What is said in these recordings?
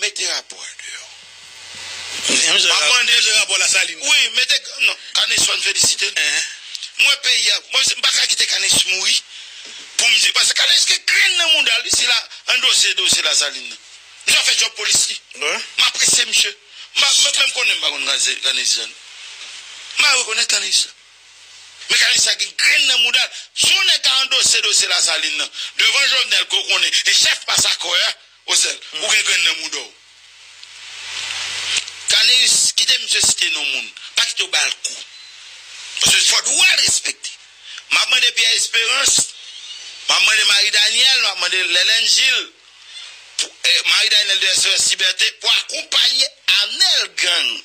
Mete rapò a deyò. Map mande de rapò lasalin. Wi mete non kanis fèm felisitel m wè peyi a bon m paka kite kanis mouri poum di paske kanis gen grenn nan moudal wi si la andose dosye lasalin nan misye ap fè djòb polis li m apresye misye m pa menm konnen m pa konn kanis jean m pa rekonèt kanis men kanis sa gen grenn nan moudal si yon nèg ta andose dosye lasalin nan devan jovenel ke w konnen e chèf masakrè a. Osel, ou gen grenn nan mouda w. Caneus, kite misye site non moun. Pa kite yo ba l kou. Paske se fwa dwa l respekte. M ap mande Pierre Esperance, m ap mande Marie Danielle, m ap mande Lelène Gilles, pou, eh, Marie Danielle de Esperance Liberté, pou akonpanye Arnel Gang.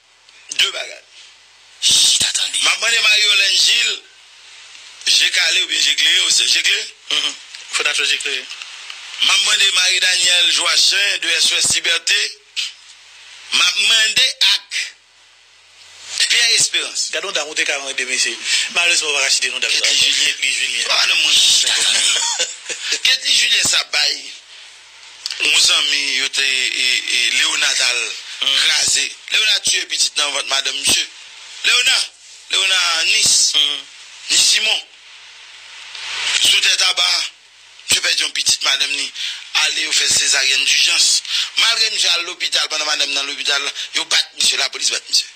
2 bagay. Chita tande. Map mande Marie-Yolène Gilles je kale oubyen je klere ou se je klere? Uhmm fò ta t fè je klere. Map mande Marie Danielle Joachin de SOS Liberté, map mande ak Pierre Esperance. Gad yon dam ou te ka renmen 2 mesye. Malerezman ou pa ka site non dam sa ankò. Ketly Julien. Ketly Julien sa bay Yon zanmi yo te Léonard t al kraze Léonard tiye pitit nan vant madanm misye Léonard Léonard Nis Nis Simon sou tè taba misye pèdi yon pitit madanm li ale yo fè sezaryèn dijans malgre misye al lopital pandan madanm nan lopital yo bat misye lapolis bat misye.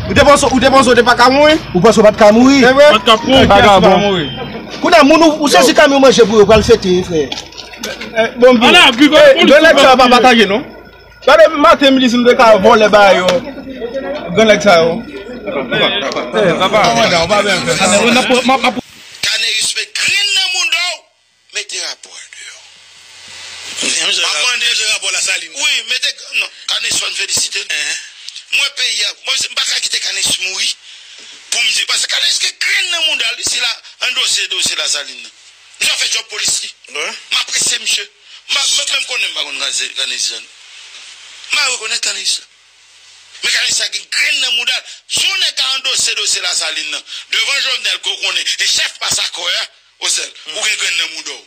Ou te panse ou te panse ou te pa ka mouri? Ou panse ou pat ka mouri? Se vre? Ou pa ka mouri. Kounye a moun ou ou sezi kamyon manje pou yo pral fete frè. Bon bgy. Ala bgy gade polis. Gran nèg sa yo pa patage non. Sa depi maten m di si m te ka vole ba yo gran nèg sa yo. Kanèris met grenn nan mouda w. Mete rapò a deyò. Map mande de rapò la salin. Wi mete non kanis fèm felisitel m wè peyi a bon m paka kite kanis mouri poum di paske kanis gen grenn nan moudal wi sila andose dosye la salin nan misye ap fè djòb polis li m apresye misye m pa menm konnen m pa konn kanis jan m pa rekonèt kanis jan men kanis sa gen grenn nan moudal si yon nèg ka andose dosye la salin nan devan jovenel ke w konnen e chèf pas akò a. Osel, ou gen grenn nan mouda w.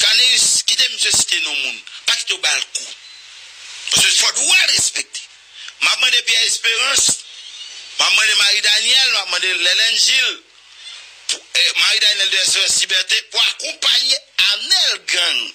Caneus, kite misye site non moun, pa kite yo bal kou. Paske fò dwa l respekte. M ap mande Pierre Esperance, m ap mande Marie Danielle, m ap mande Lelène Gilles, pou Marie Danielle de Esperance Liberté, pou akonpanye Arnel Gang.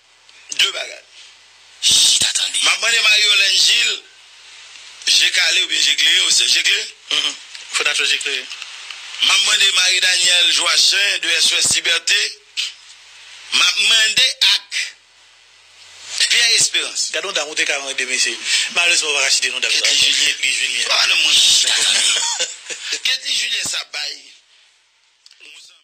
2 bagay. Chita tande. Map mande Marie-Yolène Gilles je kale oubyen je klere ou se je klere? Uhmm fo dat ou je klere. Map mande Marie Danielle Joachin de SOS Liberté, map mande ak Pierre Esperance. Gad yon dam ou te ka renmen 2 mesye. Malerezman ou pa ka site non dam sa ankò. Ketly Julien. Chita tande. Ketly Julien sa bay yon zanmi.